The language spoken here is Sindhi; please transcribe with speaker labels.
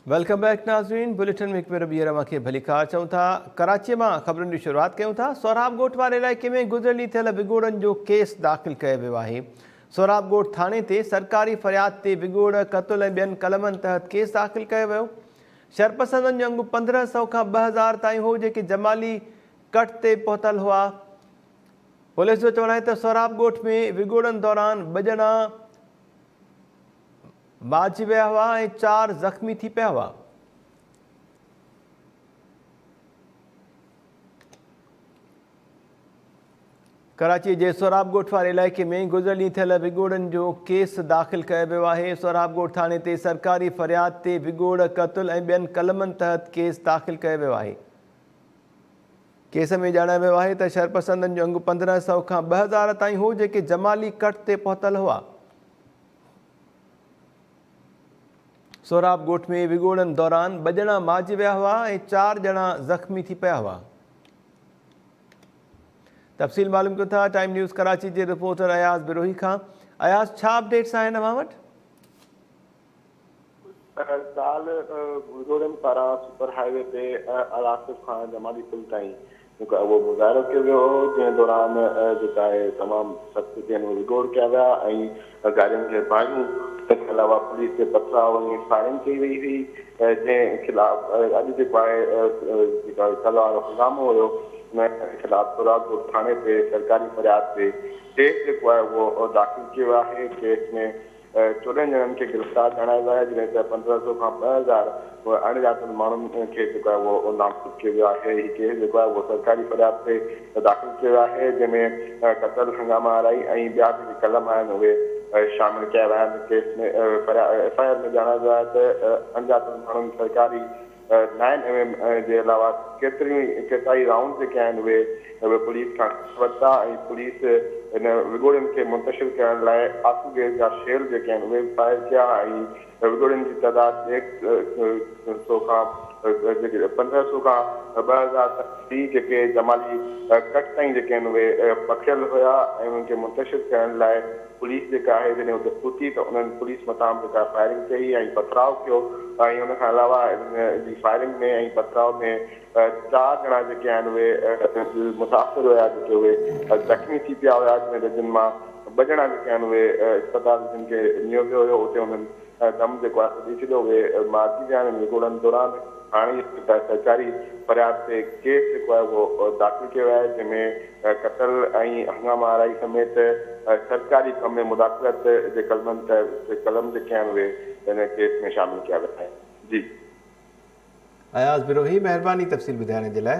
Speaker 1: ويلڪم بيڪ ناظرين بليٽن ۾ هڪ ڀيرو ٻيهر اوهان کي ڀليڪار چئون ٿا ڪراچي مان خبرن جي شروعات ڪيون ٿا سهراب ڳوٺ واري علائقي ۾ گذريل ڏينهن ٿيل وڳوڙن جو ڪيس داخل ڪيو ويو آهي سهراب ڳوٺ ٿاڻي تي سرڪاري فرياد تي وڳوڙ قتل ۽ ٻين قلمن تحت ڪيس داخل ڪيو ويو شرپسندن جو انگ پندرهن سو کان ٻه هزار تائين هو جيڪي جمالي ڪٽ تي پهتل هئا پوليس جو چوڻ آهي ته سهراب ڳوٺ ۾ وڳوڙن دوران ٻه ڄڻا مارجي ويا هئا ۽ چار زخمي ٿي پيا هئا. ڪراچي جي سهراب ڳوٺ واري علائقي ۾ گذريل ڏينهن ٿيل وڳوڙن جو ڪيس داخل ڪيو ويو آهي. سهراب ڳوٺ ٿاڻي تي سرڪاري فرياد تي وڳوڙ، قتل ۽ ٻين قلمن تحت ڪيس داخل ڪيو ويو آهي. ڪيس ۾ ڄاڻايو ويو آهي ته شرپسندن جو انگ پندرهن سئو کان ٻه هزار تائين هو جيڪي جمالي ڪٽ تي پهتل هئا. سهراب ڳوٺ ۾ وڳوڙن دوران ٻه ڄڻا مارجي ويا هئا ۽ چار ڄڻا زخمي ٿي پيا هئا. تفصيل معلوم ڪيو ٿا ٽائيم نيوز ڪراچي جي رپورٽر اياز بروهي کان اياز ڇا اپڊيٽس آهن اوهان وٽ؟ ڪالهه
Speaker 2: وڳوڙن پاران سپر هاء وي تي الهاصف کان جمالي پل تائين مون کان اهو مظاهرو ڪيو ويو هو جنهن دوران جيڪا آهي تمام سخت تي هن وڳوڙ ڪيا ويا ۽ گاڏين کي باهيون تنهن علاوه پوليس تي پٿرا ۽ فائرنگ ڪئي وئي هئي جنهن خلاف اڄ جيڪو آهي جيڪا سزا وارو هنگامو هيو ان خلاف سوراب ڪوٽ ٿاڻي تي سرڪاري فرياد تي ڪيس جيڪو آهي اهو داخل ڪيو ويو آهي ڪيس ۾ چوڏهن ڄڻن کي گرفتار ڪرايو ويو آهي جڏهن ته پندرهن سؤ کان ٻه هزار اڻڄاتل ماڻهن کي جيڪو آهي اهو نابود ڪيو ويو آهي هي ڪيس جيڪو آهي اهو سرڪاري فرياد تي داخل ڪيو ويو آهي جنهن ۾ قتل هنگامه آرائي ۽ ٻيا جيڪي قلم آهن اهي شامل ڪيا ويا آهن ڪيس ۾ ايف آء آر ۾ ڄاڻايو ويو آهي ته اڻڄاتل ماڻهن سرڪاري نائن ايم ايم جي علاوه ڪيتريون ئي ڪيترائي رائونڊ جيڪي آهن اهي به پوليس کان کسي ورتا ۽ پوليس ان وڳوڙين کي منتشر ڪرڻ لاء آسو گيس جا شيل جيڪي آهن اهي به فائر ڪيا ۽ وڳوڙين جي تعداد ڏيڍ سو کان پندرهن سو کان ٻه هزار تائين هئي جيڪي جمالي ڪٽ تائين جيڪي آهن اهي پکڙيل هيا ۽ انهن کي منتشر ڪرڻ لاء پوليس جيڪا آهي جڏهن اتي پهتي ته انهن پوليس مٿان به ڪا فائرنگ ڪئي ۽ پٿراء ڪيو ۽ ان کان علاوه انهن جي فائرنگ ۾ ۽ پٿراء ۾ چار ڄڻا جيڪي آهن اهي دل متاثر هيا جيڪي اهي زخمي ٿي پيا هيا جن مان ٻه ڄڻا جيڪي آهن اهي اسپتال جن کي نيو ويو هيو اتي انهن ڪم جيڪو آهي سو ڏئي ڇڏيو وئي. معافي جي هاڻي نگوڙن دوران هاڻي جيڪو آهي سرڪاري فرياد تي ڪيس جيڪو آهي اهو داخل ڪيو ويو آهي جنهن ۾ قتل ۽ هنگامه آرائي سميت سرڪاري ڪم ۾ مداخلت جي قلمن تحت قلم جيڪي آهن اهي هن ڪيس ۾ شامل ڪيا ويا آهن جي.
Speaker 1: اياز
Speaker 2: بروهي
Speaker 1: مهرباني تفصيل ٻڌائڻ
Speaker 2: جي
Speaker 1: لاء.